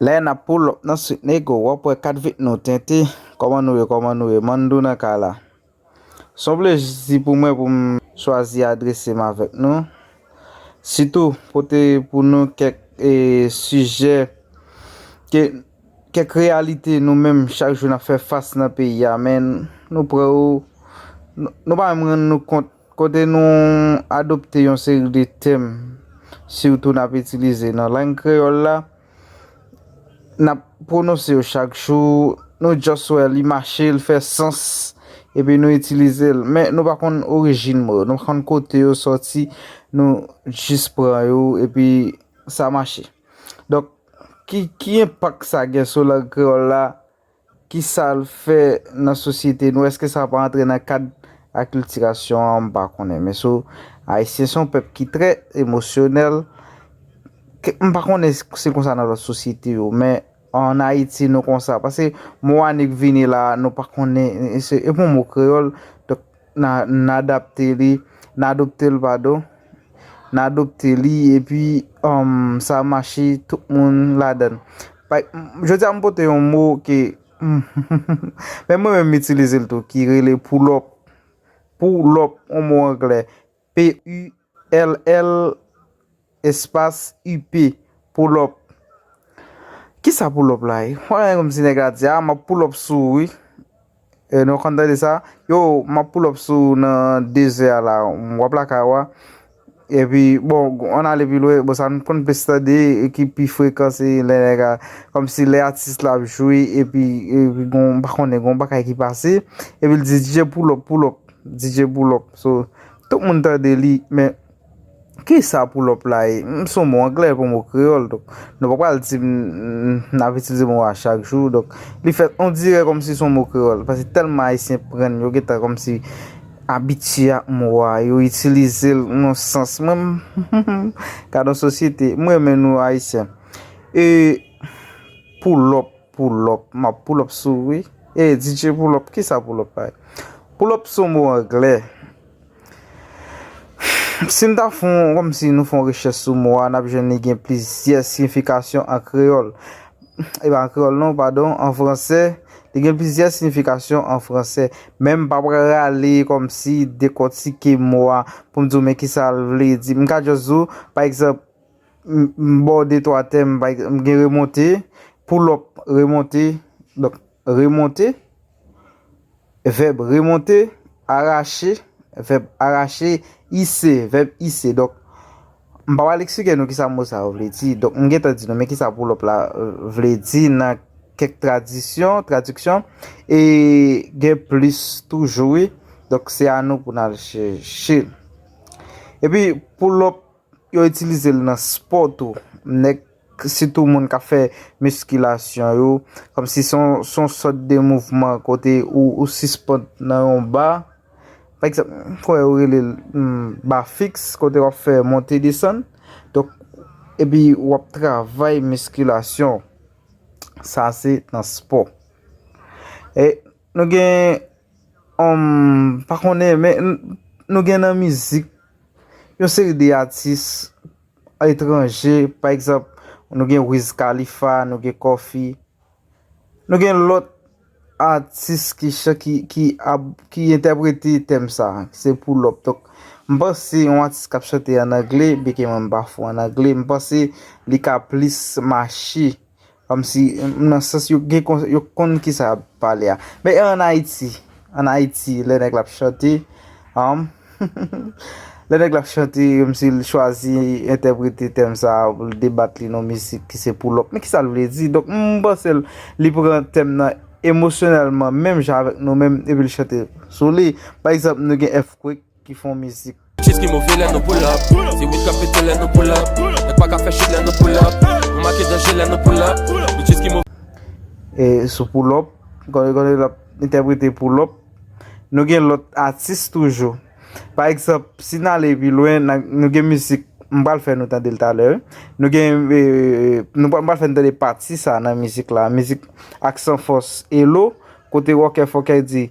Lè nap pull up nan sweet nego wap wè 4 vit nou tente Koman nou ye koman nou ye Mandou nan kay la Son plezi pou mwen poum chwazi adresem avèk nou Sitou pote pou nou kèk sijè ke kèk reyalite nou menm chak jou nap fè fas nan peyi a men nou prè yo nou pa menm rann nou kont Kote nou adopte yon seri de tèm sitou n ap itilize nan lang kreyòl la, n ap pwononse yo chak jou, nou just wè li mache, li fè sans epi nou itilize l. Men nou pa konn orijin mo yo, nou pa konn kote yo sòti, nou jis pran yo epi sa mache. Donk, ki enpak sa gen sou lang kreyòl la? Ki sa l fè nan sosyete nou? Eske sa pa antre nan kad akiltirasyon an? M pa konnen. Men sou Ayisyen se yon pèp ki trè emosyonèl. M pa konnen si se konsa nan lòt sosyete yo. Men an Ayiti nou konsa. Pase mo annik vini la, nou pa konnen. Se yon mo kreyòl. N adapte li, n adopte l padon, n adopte li epi sa mache tout moun ladan l. Jodi a m pote yon mo ke menm mwen menm m itilize l tou ki rele poulòp. Poulòp yon mo anglè. P-u-l-l espas u-p, pull up Kisa pull up la ye? Wap gade kòmsi nèg la di a, map pull up sou ou wi E nou konn tande sa Yo, map pull up sou ou nan dezè a la Wap lakay ou a E pi, bon, ann ale pi lwen Bon, sa nou konn plis tande ki pi frekan se lè nèg la Kòmsi lè atis la ap jwe e pi gon, m pa konnen, gon bagay ki pase E pi l di DJ pull up, pull up DJ Poulòp so tout moun tande li men ki sa Poulòp la ye? M son mo anglè e pou mo kreyòl donk nou pa pral di m n ap itilize mo a chak jou donk li fèt on dirè kòm si son mo kreyòl paske tèlman ayisyen pran n yo gen tan kòm si abitye ak mo a yo itilize l nan sans mwen m humm gadon sosyete m renmen nou ayisyen ee Poulòp. Poulòp, m ap poulòp sou ou wi. Ey DJ Poulòp, kisa poulòp la ye? Poulòp se yon mo anglè. Si n ta fè yon, kòmsi nou fè yon rechèch sou mo a, n ap jwenn li gen plizyè siyifikasyon an kreyòl. E pa an kreyòl non, padon, an fransè. Li gen plizyè siyifikasyon an fransè. Men m pa pral rale kòmsi dekòtike mo a pou m di w men kisa l vle di. M ka jis di w, pa egzanp. M ba w de twa tè m pa egzanp m gen remonte, pull up, remonte, donk remonte, vèb remonte, arache, vèb arache, ise, vèb ise. Donk m pa pral eksplike nou kisa mo sa yo vle di. Donk m gentan di nou men kisa pull up la vle di nan kèk tradisyon, tradiksyon e gen plis toujou wi. Donk se a nou pou n al chèche. Epi pull up. Yo itilize l nan spò tou. Nèg, sitou moun k ap fè miskilasyon yo, kòmsi se yon sòt de mouvman kote ou sispand nan yon ba. Pa egzanp, m kwè yo rele l ba fiks, kote w ap fè monte desann. Donk, epi w ap travay miskilasyon. Sa se nan spò. E, nou gen. Humm pa konnen men nou gen nan mizik yon seri de atis etranje pa egzanp nou gen Wiz Khalifa, nou gen Koffi, nou gen lòt atis ki chan ki ki ap ki entèprete tèm sa ki se Pull up donk m panse yon atis k ap chante an angle byenke mwen m pa fou an angle m panse li ka plis mache Kòmsi, nan sans yo gen kon, yo konn kisa y ap pale a. Men e ann Ayiti? Ann Ayiti, lè nèg la ap chante, humm, lè nèg la ap chante, kòmsi l chwazi entèprete tèm sa a pou l debat li nan yon misik ki se pou lòk. Men kisa l vle di? Donk, m panse l, li pran tèm nan emosyonèlman menm jan avèk nou menm epi l chante sou li. Pa egzanp, nou gen Earthquake. ki fon mizik. Cheese ki move lè nou pull up Se weed kap pete lè nou pull up Nèg pa ka fè chute lè nou pull up Nou make danje lè nou pull up Nou cheese ki move. E sou pull up Gade gade lap entèprete pull up Nou gen lòt atis toujou Pa egzanp si n ale pi lwen na nou gen mizik m pral fè nou tande l talè wi Nou gen m pral fè nou tande pati sa nan mizik la mizik Aksanfòs Elo kote Ròkè Fòkè di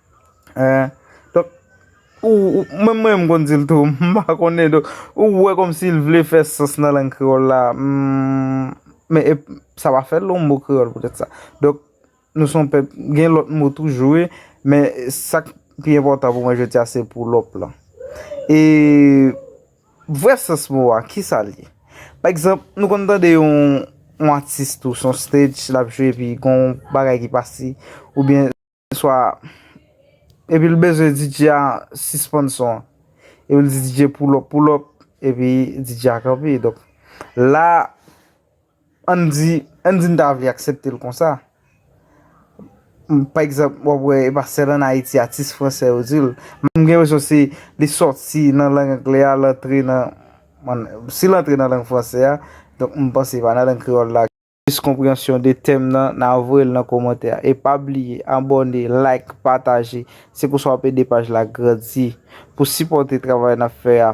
Mwen menm m konn di l tou. M pa konnen donk. Ou wè konm si l vle fè sans nan lang kreyòl la. Men e sa pa fè l yon mo kreyòl poutèt sa. Donk nou s on pèp gen lòt mo toujou wi. Men sa k pi enpòtan pou mwen jodi a se pou lòp lan. E vrè sans mo a ki sa l ye? Pa egzanp nou konn tande yon atis tou s on stage l ap jwe epi gon bagay ki pase oubyen. Swa Epi l bezwen DJ a sispann son an Epi l di DJ pull up pull up Epi DJ a kanpe Donk la Ann di Ann di n ta vle aksepte l konsa Pa egzanp w ap wè e pa sèl ann Ayiti atis fransè yo di l M gen enpresyon se li soti nan lang angle a l antre nan Si l antre nan lang fransè a Donk m panse pa nan lang kreyòl la Plis konpreyansyon de tèm nan na voyel nan komantè a e pa bliye abòne like pataje se konsa wap ede paj la grandi pou sipòte travay nap fè a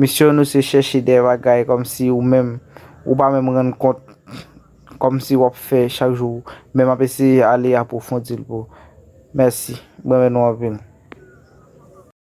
misyon nou se chèche dè bagay kòmsi ou menm ou pa menm rann kont kòmsi wap fè chak jou men map eseye ale apwofondil pou mèsi mrenmen nou anpil.